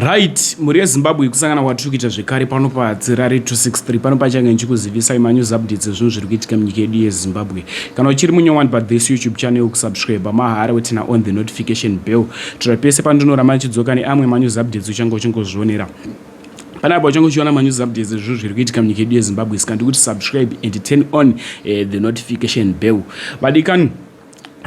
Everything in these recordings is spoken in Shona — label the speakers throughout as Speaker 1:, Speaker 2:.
Speaker 1: Right, mhuri yeZimbabwe ikusangana kwatiri kuita zvekare pano paTsirari 263 pano pachange ndichikuzivisai manews updates ezvinhu zviri kuitika munyika yedu yeZimbabwe. Kana uchiri munyowani pathis YouTube channel kusubscribe mahara wetina on the notification bell tira pese pandinorama ndichidzoka neamwe manews updates uchange uchingozvionera pane apo uchange uchiona manews updates ezvinhu zviri kuitika munyika yedu yeZimbabwe sika ndikuti subscribe and turn on uh, the notification bell vadikani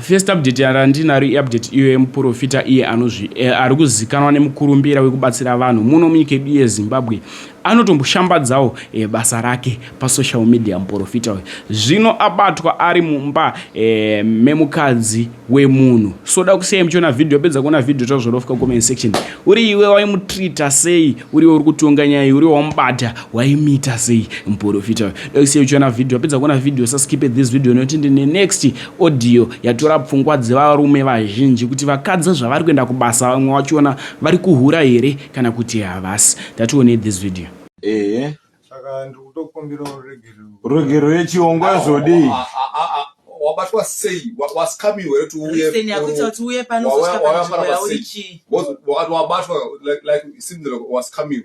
Speaker 1: First update yarandinaro iupdate iyo yemuporofita iye anozvi eh, ari kuzikanwa nemukurumbira wekubatsira vanhu muno munyika yedu yezimbabwe anotomboshambadzawo eh, basa rake pasocial media muporofita uyu zvino abatwa ari mumba eh, memukadzi wemunhu so da kusiyai muchiona vhidhiyo apedza kuona vhidhiyo tazvorofika comment section uri iwe waimutreata sei uriwe uri kutonga nyaya uriwe wamubata waimuita sei muporofita uyu ndoise uchiona vhidhiyo wapedza kuona vhidhiyo usaskipe this video nokuti ndine next audio yatora pfungwa dzevarume vazhinji kuti vakadzi zvavari kuenda kubasa vamwe vachiona vari kuhura here kana kuti havasi tatione this video ehe saka
Speaker 2: ndiri kutokumbira ruregerero ruregerero
Speaker 3: yechiongo yazvodii ah, ah, ah,
Speaker 4: wabatwa sei wasikamiwe kuti uyeakuti
Speaker 5: panowayafanaa sei wabatwa
Speaker 4: like simdira wasikamiwe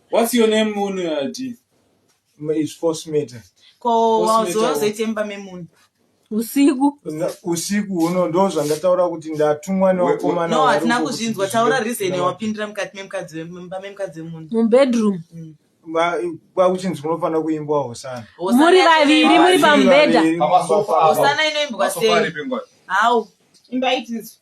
Speaker 4: What's
Speaker 3: your name munhu yati? It's
Speaker 2: force meter. Ko wazowa
Speaker 5: zoite mba memunhu. Usiku.
Speaker 6: Usiku uno ndo zvandataura
Speaker 2: kuti ndatumwa newakomana. No, hatina kuzvinzwa.
Speaker 5: Taura reason wapindira mukati memukadzi wemba memukadzi wemunhu. Mu bedroom.
Speaker 6: Mm.
Speaker 2: kwakuchinzi kunofanira kuimbwa hosana muri vaviri
Speaker 6: muri pamubhedha hosana
Speaker 5: inoimbwa sei how imba itizo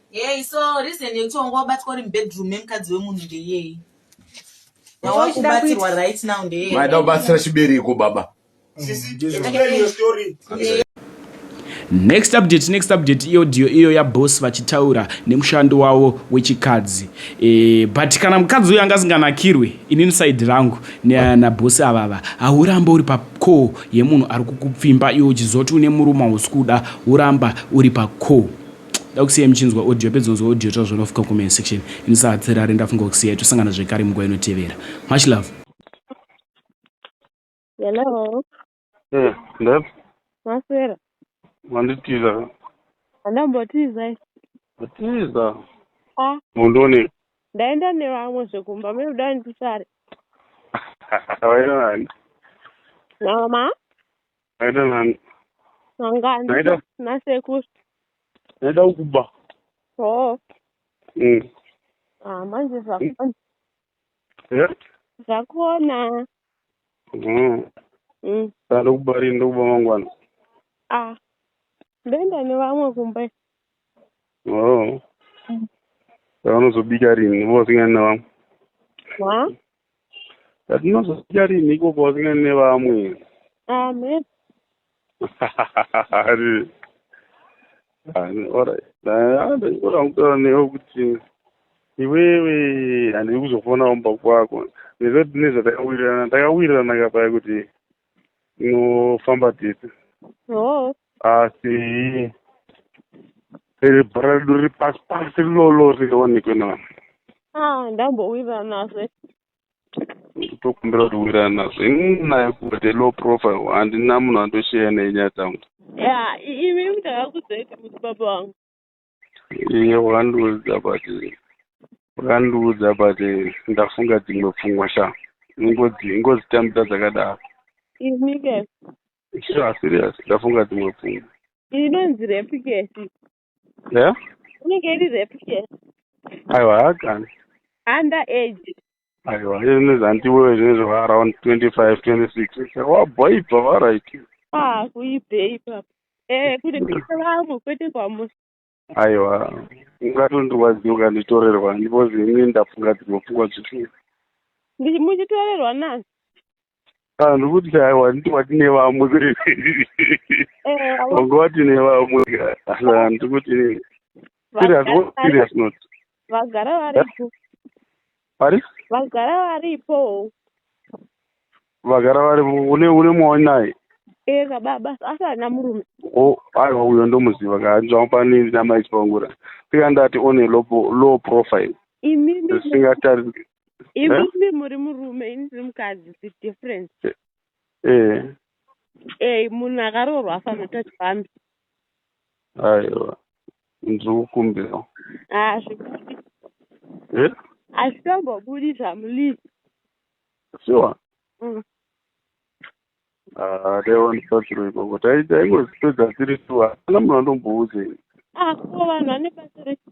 Speaker 5: Hey, so reason yekuti wanga wabatwa uri mubedroom memukadzi wemunhu ndeyei
Speaker 7: wawakubatsirwa right now ndeyei maida
Speaker 8: kubatsira chibereko baba
Speaker 1: next update next update iyo dio iyo yaboss vachitaura nemushando wavo wechikadzi e, but kana mukadzi uyo anga asinganakirwe inini side rangu nabosi avava hauramba uri pacall yemunhu ari kukupfimba iwo uchizoti une murume hausi kuda uramba uri pacall Dakusiya muchinzwa audio pedzonzwa audio tazvanofuka comment section ini sahatsirare ndafunga kusiya tosangana zvekare munguva inotevera much love
Speaker 9: hello eh
Speaker 7: ndep maswera
Speaker 9: manditiza andambotiza
Speaker 7: atiza ah
Speaker 9: mundone ndaenda nevamwe zvekumba me uda ndisare
Speaker 7: vainani mama Naida nani? Mangani.
Speaker 9: Naida.
Speaker 7: Nasekuru.
Speaker 9: Naida
Speaker 7: ukuba. Oh.
Speaker 9: Mm. Ah, manje zvakona. Yeah? Zvakona. Mm. Mm.
Speaker 7: Ndada kuba rini ndokuba mangwana. Ah.
Speaker 9: Ndoenda nevamwe kumba.
Speaker 7: Oh. Mm. Vanozobika rini? Vosingani nevamwe. Wa? Ndinozodya rinhi ikoko asingani nevamwe? Amen. Ari. Ani ora. Ndakora kutaura newe kuti iwewe handidi kuzofona kumba kwako. Nezvati nezvatakawirirana takawirirana kapaya kuti tinofamba tese. Oh. asi iri bhora redu riri pasi pasi lolo rionekwe na ah, ndambowirana
Speaker 9: nazve
Speaker 7: ndikutokumbira kuti wirana nazvo inaye kuti low profile handina munhu andosheya nenyaya dzangu ya imi
Speaker 9: mtakakudzei kuti baba wangu
Speaker 7: iye wakandiudza but wakandiudza but ndafunga dzimwe pfungwa sha ingozi ingozitambira dzakadaro ini ke
Speaker 9: sha serious
Speaker 7: ndafunga dzimwe pfungwa inonzi repi
Speaker 9: ke ya inenge iri repi ke aiwa
Speaker 7: hakani under
Speaker 9: age aiwa ini
Speaker 7: zvandiwe zvine zvava around 25 26 wabhoibva varaiki ah kuibhei
Speaker 9: ipapo eh kune kuita vamwe kwete kwamusi aiwa
Speaker 7: ungatondirwadziwa ukanditorerwa because ini ndafunga dzimwe pfungwa dzikuru
Speaker 9: muchitorerwa nani Ah,
Speaker 7: ndiri kuti aiwa nditi wati nevamwe eh, wanga wati nevamwe ah, ndiri kuti serious what serious not vagara
Speaker 9: varipo vari vagara varipo
Speaker 7: vagara varipo une une mwaoni naye ee kababa
Speaker 9: asi ana murume o oh, aiwa uyo
Speaker 7: ndomuziva kaanzvamo pani namaisipangura tikandati one low profile imi zvisingatarisi imi
Speaker 9: muri murume ini ndiri mukadzi the difference eh, eh. ey eh, munhu akaroorwa afanoita chifambi
Speaker 7: aiwa ndiri kukumbira hazvibudi ah,
Speaker 9: hazvitombobudi zvamulizi
Speaker 7: sure mm. ah, daiwa ndisatiro ikoko taingozipedza tiri tu hapana munhu andombouzei ako ah, vanhu
Speaker 9: vane basa rechi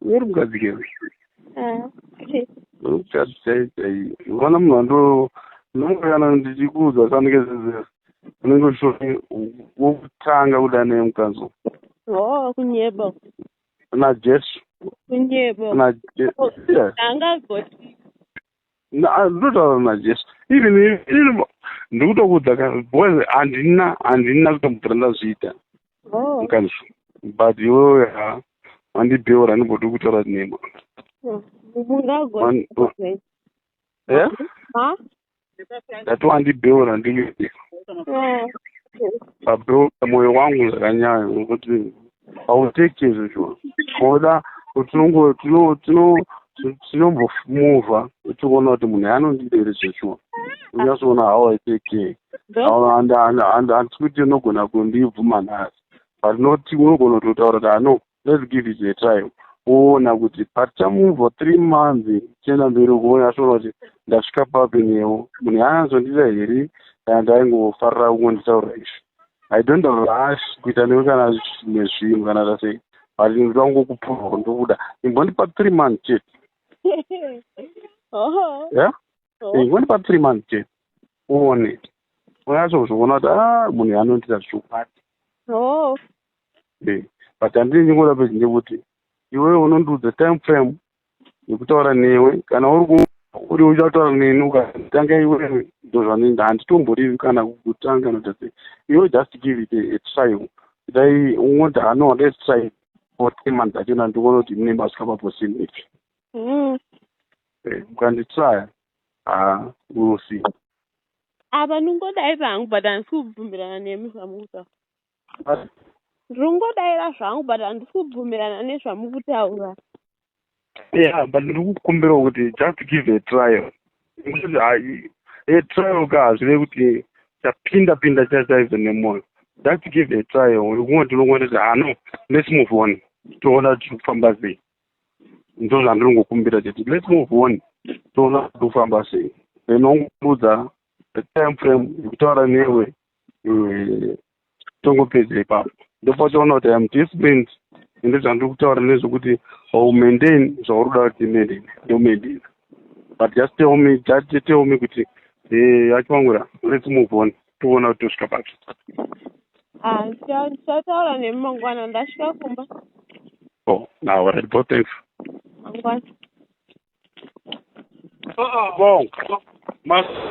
Speaker 7: uri mukadzi ke mukadzi chai chai vana munhu ando ndinongokana ndichikuudza sanike zizera unenge uchitoti wokutanga kuda neye mukanzo o
Speaker 9: kunyeba
Speaker 7: najesu kunyeba
Speaker 9: najesu angagoti
Speaker 7: Ah, ndotaura najesu even ndiri kutokuudza ka because handina handina kutombopera ndazviita oh. mukanzwa but iwewe ha wandibheura andimbodi kutaura nema ndati wandibheura ndikuti pabheura mwoyo wangu zvakanyayo nokuti hauteki chezvo shuwa koda tinongo tino tino tinombomuvha uchiona kuti munhu yanondidere zveshuwa unyasoona how i take care handisi kuti unogona kundibvuma nhasi but not unogona kutotaura kuti ano let's give it a try woona kuti patichamubva three months tichienda mberi ukuona asvona kuti ndasvika papi newo munhu yaanazondida here kana ndaingofarira kungonditaura izvi i don't rush kuita newe kana zvimwe zvinhu kana zvasei but ndoda kungokupurwa ndokuda imbondipa three months chete ya ingondipa three months chete uone unyaso kuzviona kuti a ah, munhu yanondita zvichokwadi but andine nyingoda pezinde kuti iwewe unondiudza time frame yekutaura newe kana uri uri uchataura neni ukatanga iwewe ndozvanoenda handitomborivi kana kutanga nodase iwe just give it a trial dai ungoti hano let's try for three months achona ndikuona kuti mune masvika paposini ipi mm. eh, ukanditraya ha will see apa
Speaker 9: ndingodai vangu but handisi kubvumirana nemi zvamukutaura Ndiri kungodaira zvangu but handisi kubvumirana nezvamuri kutaura.
Speaker 7: Yeah, but ndiri kukumbirawo kuti just give a trial. Ngokuti hayi a trial ka hazvive kuti chapinda pinda chachaive nemwoyo. Just give a trial. Uri kungoti unongoti kuti ah no, let's move on. Toona kuti tiri kufamba sei. Ndizvo zvandiri kungokumbira chete. Let's move on. Toona kuti tiri kufamba sei. Then wongoudza the time frame yekutaura newe mm, tongopedza ipapo ndopauchaona kuti am different ende zvandiri kutaura nezvekuti haumaintain zvauri kuda kuti maintain ndomaintain but just tell me just tell me kuti eh, achivangura let's move on toona kuti tosvika papi ah, tichataura
Speaker 9: nemi mangwana
Speaker 7: ndasvika kumba oh now alright bo thanks mangwana uh-uh. bonga